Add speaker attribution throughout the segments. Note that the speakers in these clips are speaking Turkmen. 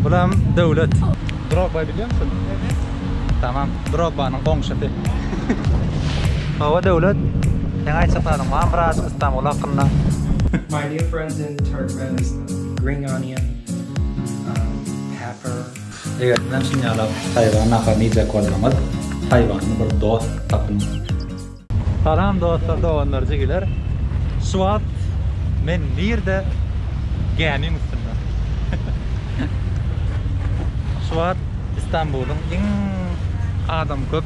Speaker 1: Bulam döwlet. Drogba bilýär misin? Evet. Tamam. Drogbanyň goňşusy. Hawa döwlet. Sen aýtjak zadyň barmy biraz Istanbul hakynda? My new
Speaker 2: friends in Turkmenistan. Green onion. Pepper. Eger siz hem şuny
Speaker 1: ýalap taýwan naharyny iýjek bolsaňyz, taýwanly bir dost tapyň. Salam dostlar doganlar jigiler şu wagt men nirde gämiň üstünde şu wagt istanbulyň iň adam köp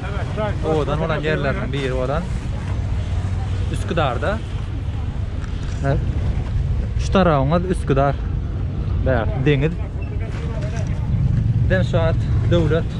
Speaker 1: owadan bolan ýerleriniň biri bolan üsküdarda şu tarabyňyz üsküdar bäh deňiz bizem şu wagt döwlet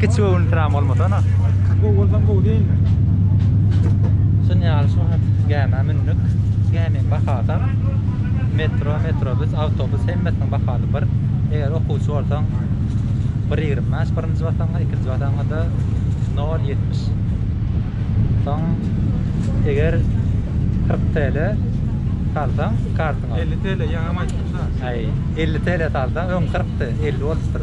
Speaker 1: Kiçi göwün piram bolmasa na. Gowy bolsam gowy
Speaker 3: diýilme. Şun
Speaker 1: ýaly şu wagt gämä mündük. Gämiň bahasam metro, metrobus, awtobus hemmesiniň bahasy bir. Eger okuwçy bolsaň bir ýigrimi bäş birinji basaňa, ikinji basaňada nol ýetmiş. Soň eger kyrk TL salsaň kartyňa. Elli TL ýaňam
Speaker 3: aýtdym şa. Aý, elli
Speaker 1: TL salsaň öň kyrkdy, elli bolupdyr.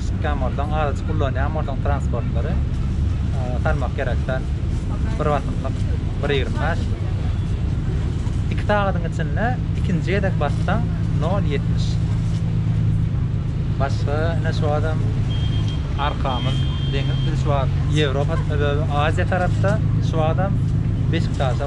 Speaker 1: Çykýanbolsaň azajyk ullanýan bolsaň transportlary salmak gerek sen bir basymlyk bir ýigrimi bäş iki sagadyň içinde ikinji gezek bassaň nol ýetmiş başga ine şu adam arkamyz deňiz biz şu wagt ýewropa aziýa tarapda şu wagtam beşiktaşa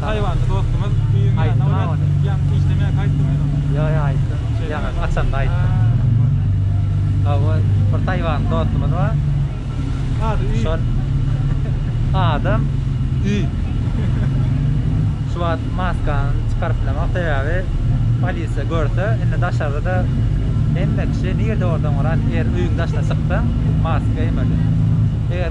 Speaker 3: Taýwanly
Speaker 1: dostumyz düýn ýata bolýar. Ýaňky işlemeýär aýtdymy sen oňa? Ýok ýok aýtdym. Ýaňy açanda aýtdym. Hawa bir taýwanly dostumyz bar. Ady Üý. Şol adam Üý. Şu wagt maskany çykaryp bilemok sebäbi polisiýa görse indi daşarda-da hemme kişi nirde bolsaň bolar at er öýüň daşyna çyksaň maska geýmeli.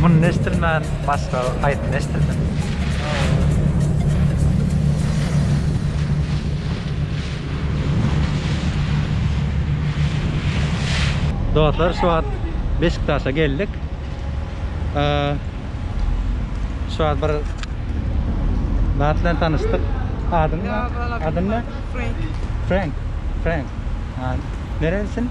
Speaker 1: Muny eşdilmän başga haýsyny eşdilsin. Dostlar şu wagt Beşiktaşa geldik. Şu wagt bir zat bilen tanyşdyk. Adyň ne? Adyň ne? Frank. Frank. Frank. Nerelisin?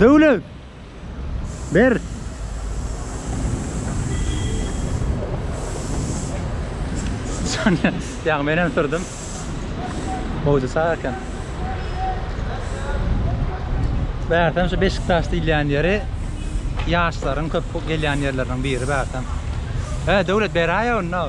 Speaker 1: Döwlet! Ber! Şonda ýaňy men hem sürdüm. Howja sag eken. Bärtem şu Beşiktaş diýilýän ýeri ýaşlaryň köp gelýän ýerleriniň biri bärtem. He, Döwlet beräýe onda.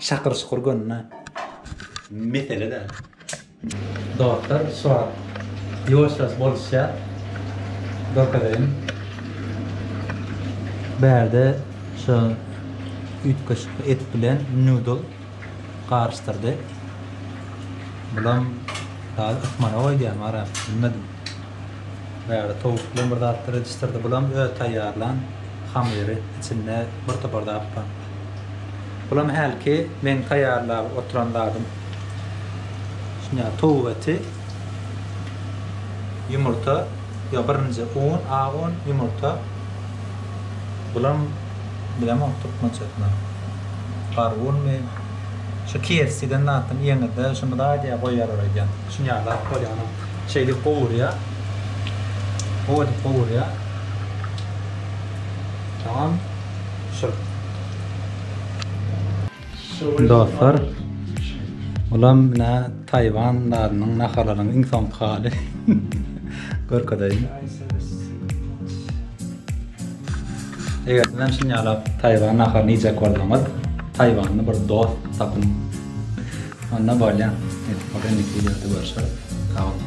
Speaker 1: Şakyr şukur gönnä mesele däl. Dostlar şu wagt ýuwaşjaç boluşýar görkezeýin bärde şu üýtgeşik et bilen nudl garyşdyrdy bulam taze ysmana goýdýamy arap bilmedim bärde towuk bilen bir zatlar edişdirdi bulam öz taýýarlan hamyry içinde bir topar zat bar. Bulam hälki meň taýýarlap oturan zadym. Şunda towuk eti, ýumurta, ýok birinji un, ak un, ýumurta. Bulam bilemok türkmençesini. Gargunmy? Şu KFC diýen zatdan iýeňizde şuny dagy diýýär goýýarlar öýdýän. Şuny ýaly zat bolýar ony şeýdip gowurýar. Gowy edip gowurýar. Tamam. Dostlar, bulam nä Taýwan dadynyň nahalarynyň iň soňky haly. Görkezeýin. Eger siz hem şuny ýalap Taýwan naharyny iýjek bolsaňyz, Taýwanly bir dost tapyň. Onda bolýar. Ýa-da indiki wideoda görüşeris. Sag boluň.